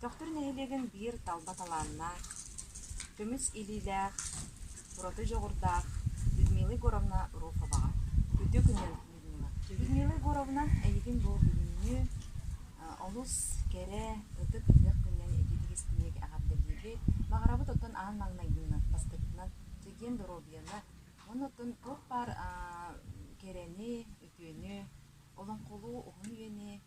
Төхтүр нэһилиэгин биир талба талааннаах, көмүс илиилээх, ураты дьоҕурдаах Людмила Егоровна Руховаҕа үтүөкүнэн Людмила. Людмила Егоровна эйигин бу бүгүҥҥү олус кэрэ, ытык ыһыах күнүнэн ититик истиҥник эҕэрдэлиибит. Баҕарабыт оттон аан маҥнайгынан бастакытынан чэгиэн доруобуйаны уонна оттон туох баар кэрэни, үтүөнү, олоҥхолуу уһун үйэни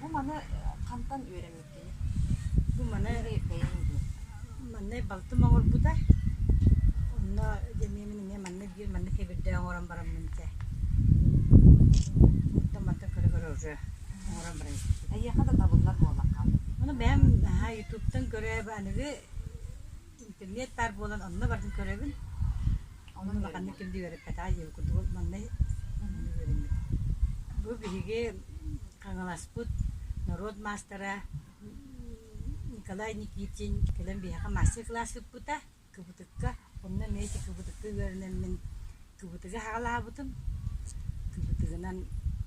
Бу маны хантан үөрэммиккиний? Бу маны бэйэҥ диэн. Манна балтым оҥорбута. Онно дьэниэмин эмиэ манна биир манна кэбирдэ оҥорон бараммын чэ онтон-мантан көрө-көрө уже оҥорон баран испитим. Эйиэхэ да табыллар буоллахха. Ону бэйэм наһаа ютубтан көрөөбө аныгы интернет баар буолан онно бардым көрөбүн. Онон улаханнык ким да үөрэппэт аа диэбит курдук маннай үөрэммит. Бу биһиги Хаҥаласпыт норуот маастара Николай Никитин кэлэн биһиэхэ мастер-класс ыыппыта кыбытыкка. Онно эмиэ ити кыбытыкка үөрэнэммин кыбытыгы хаалаабытым. Кыбытыгынан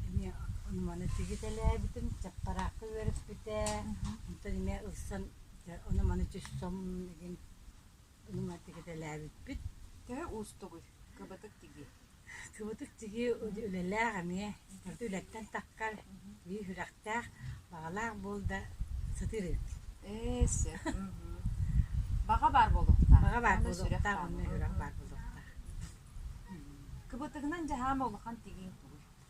эмиэ онуманы тигитэлээбитим, чаппараакка үөрэппитэ. Онтон эмиэ ылсан Дьэ, ону маны түссом дигин нуматык этэлээбиппит. Төһө уустугуй кыбытык тиги? Кыбытык тиги үлэлээх эмиэ төрүт үлэттэн тахкар биир сүрэхтээх, баҕалаах буол да сытыыр эбит. Ээ, сэ. Баҕа баар буолуохтаах. Баҕа баар буолуохтаах, онно сүрэх баар буолуохтаах. Кыбытыгынан дьаһаама улахан тигииҥ тугуй?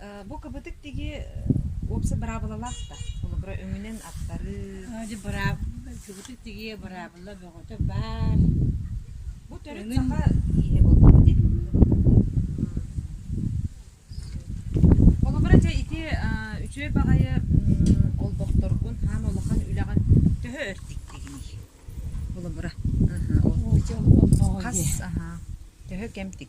Э, Бу кыбытык тиги э, уопса быраабылалаах да. Холобура өҥүнэн аттарыы. А, Дьэ, быраап кыбытык тигиэ быраабыла бөҕөтө баар. Бу төрүт Өҥүн- саха киһи болбута дии. Холобура дьэ ити а, үчүгэй баҕайы м, олбохторгун хаан улахан үлэҕин төһө өр тиктигиний? Холобура. Аха, ол Хас аха, төһө кэм тик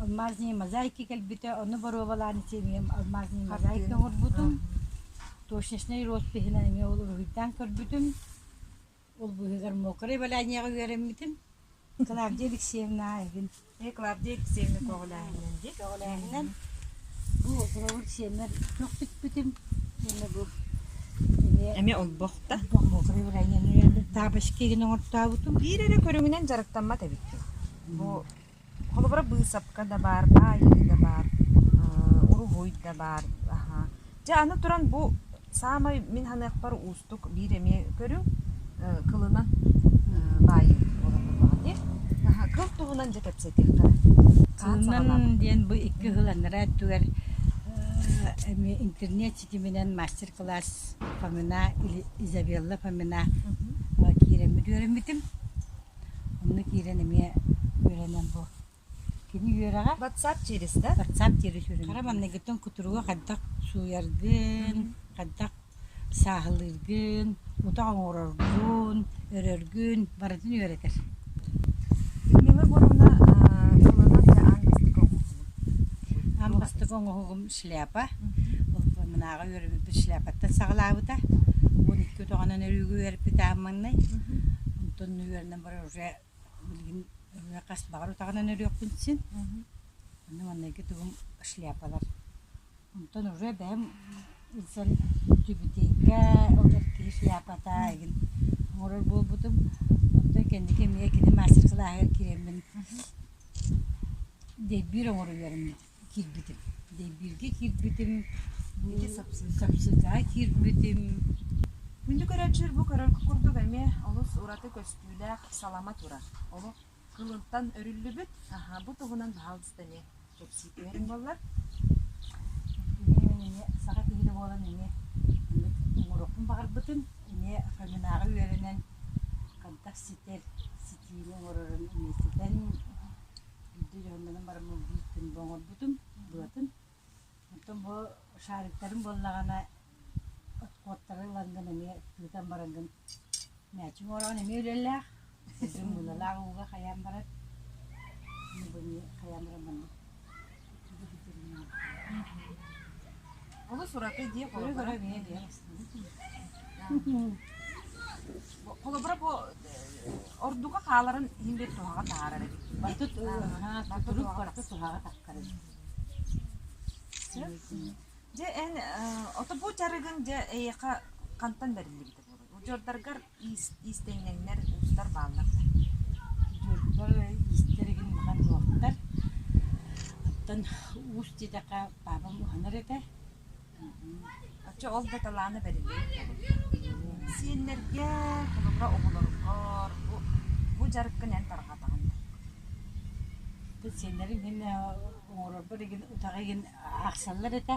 Алмазные мозаики кэлбитэ, ону боруобалаан итиэмигин алмазные мозаики оҥорбутум. Точечнай роспиһынан эмиэ ол уруһуйдаан көрбүтүм. Ол быыһыгар мокрое валянияҕа үөрэммитим. Клавдия Алексеевна эбин. Ээ, Клавдия Алексеевна көҕүлээһининэн дии. Көҕүлээһининэн бу Оҕуруобур сиэммэр көхтүппүтүм. Сиэммэ бу эмиэ Эмиэ олбохта. олбох мокрое валянияны үөрдүм. Тапочки гын оҥортообутум. Биир эрэ көрүҥүнэн дьарыктаммат эбиккин. Бу Холобура, быысапка да баар, баайыы да баар, уруһуй да баар. Дьэ аны туран бу саамай мин саныахпар уустук биир эмиэ көрүҥ кылынан баайыы буолан буоллаҕа дии. Кыл туһунан дьэ кэпсэтиэххэ. Кылынан диэн бу икки хыл анараа өттүгэр эмиэ интернет ситиминэн мастер-класс Фомина, Изабелла Фомина киирэн бүдүөрэммитим. Онно киирэн эмиэ үөрэнэн бу кини үөрэҕэ WhatsApp через, да? WhatsApp через үөрэнэ. Хара манныгыттан кутуруга хайдах сууйаргын, хайдах сааһылыыргын, утах оҥороргун, өрөргүн барытын үөрэтэр. Нила Егоровна, тылынан аан бастакы оҥоһугун. Аан бастакы оҥоһугум шляпа. Мынааҕы үөрэбиппит шляпаттан саҕалаабыта. Он икки отоҕонон өрүүгү үөрэппит ааммаҥнай. Онтон үөрэнэн барар уже билигин хас баҕар отоҕонон өрүөхпүн син. Онно маннайгы тугум шляпалар. Онтон уже бэйэм ылсан түбүтээккэ ол киһи шляпата игин оҥорор буолбутум. Оттон кэнники эмиэ кини мастер-кылааһыгар киириммин дэйбиир оҥоро үөрэммит. киирбитим. Лэйбииргэ киирбитим, ити Сапсыкаҕа киирбитим. Күндү көрөөччүлэр бу көрөргө курдук эмиэ олус ураты көстүүлээх салама турар. Олох кылынтан өрүллүбүт. Аһа, бу туһунан баһаалыста эмиэ кэпсии түһэриҥ буоллар. Эмиэ саха киһитэ буолан эмиэ маннык оҥоруохпун баҕарбытым. Эмиэ Фоминааҕы үөрэнэн, хантах ситэр ситиини оҥорорун эмиэ ситэн Биирдэ дьоһуннанан бараммын биир күн бу оҥорбутум, быатын. Оттон бу шариктарым буоллаҕына, откоттары ылан гын эмиэ тыытан баран гын мээчиҥ оҥороон эмиэ үлэлээх. Кырдьык мыылалаах ууга хайаан барар. Аны бу эмиэ хайаан баран барбыт Олус ураты дии холобура. Холобура бу ордука хааларын иһин бит туһаҕа таарар эбит. Барыта турук барыта туһаҕа тахкарын. Дьэ эн ото бу жарыгын дьэ эйиэхэ хантан бэриллибитэ буолуой? Удьуордаргар иистэнньэҥнэр уустар бааллар да дьылҕа иистэригин булан ылаттар оттон уус диэтэххэ паабам уһанар этэ оччо ол да талаана бэриллибит буолубута сиэннэргэ холобура оҕолоргор бу бу дьарыккын эн тарҕатаҕын сиэннэрим иһин оҥорорбор игин утаҕы игин аахсаллар этэ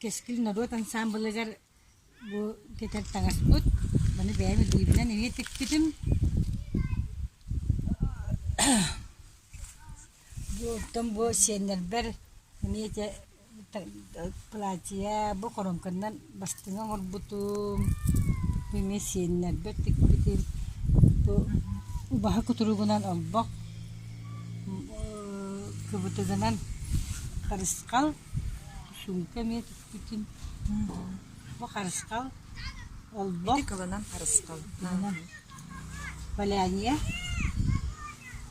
Кэскил норуот ансаамбылыгар бу кэтэр таҥаспыт, маны бэйэм илиибинэн эмиэ тикпитим. Бу оттон бу сиэннэрбэр эмиэ ити платье, бу хоромканнан Бастыҥа оҥорбутум, мин сиэннэрбэр тикпитим, бу убаһа кутуругунан олбох, кыбытыгынан харысхал, суумка эмиэ тикпитим, бу харысхал, олбох, валяния,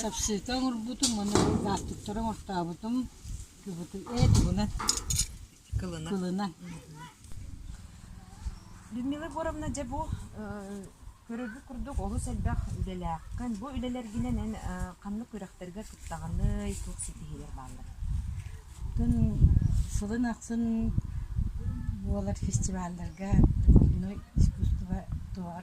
Сапсыыка оҥорбутум уонна лаастыктары оҥортообутум, ee тугуна? Кылына. Людмила Егоровна, дьэ бу көрөргүт курдук олус элбэх үлэлээххин. Бу үлэлэргинэн эн ханнык күрэхтэргэ кыттаҕыный, туох ситиһиилэр бааллар? Тун сылын ахсын буолар фестивалларга духовное искусство туһа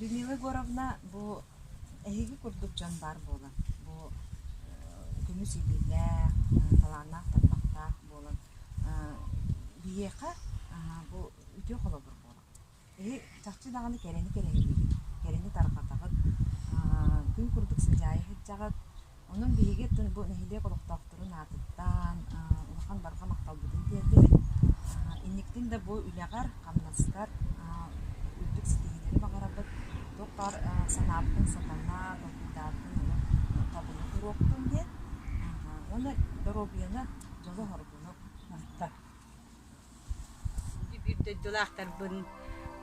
Людмила Егоровна бу эһиги курдук дьон баар буолан, бу көҥүс илиилээх, талааннаах тарбахтаах буолан биһиэхэ бу үтүө холобур буолар. Эһи чахчы даҕаны кэрэни кэрэһилиигин, кэрэни тарҕатаҕыт, күн курдук сыдьаайа сылдьаҕыт, Онон биһиги бу нэһилиэк олохтоохторун аатыттан улахан барҕа махталбытын тиэрдибит. Инниктин да бу үлэҕэр, хамнаскар үрдүк ситиһиилэри баҕарабыт. Туохпар санаабытын сатанар, долгуйдаабытын олох табына туруохтун диэн уонна доруобуйаны, дьолу-хоргуну ыытта. Ити биир дойдулаахтарбын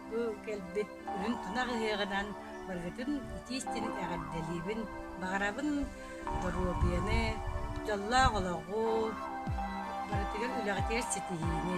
бу кэлбит күһүн тунах ыһыаҕынан барыгытын итии-истин эҕэрдэлиибин, баҕарабын доруобуйаны, дьоллоох олоҕу, барытыгар үлэҕитигэр ситиһиини.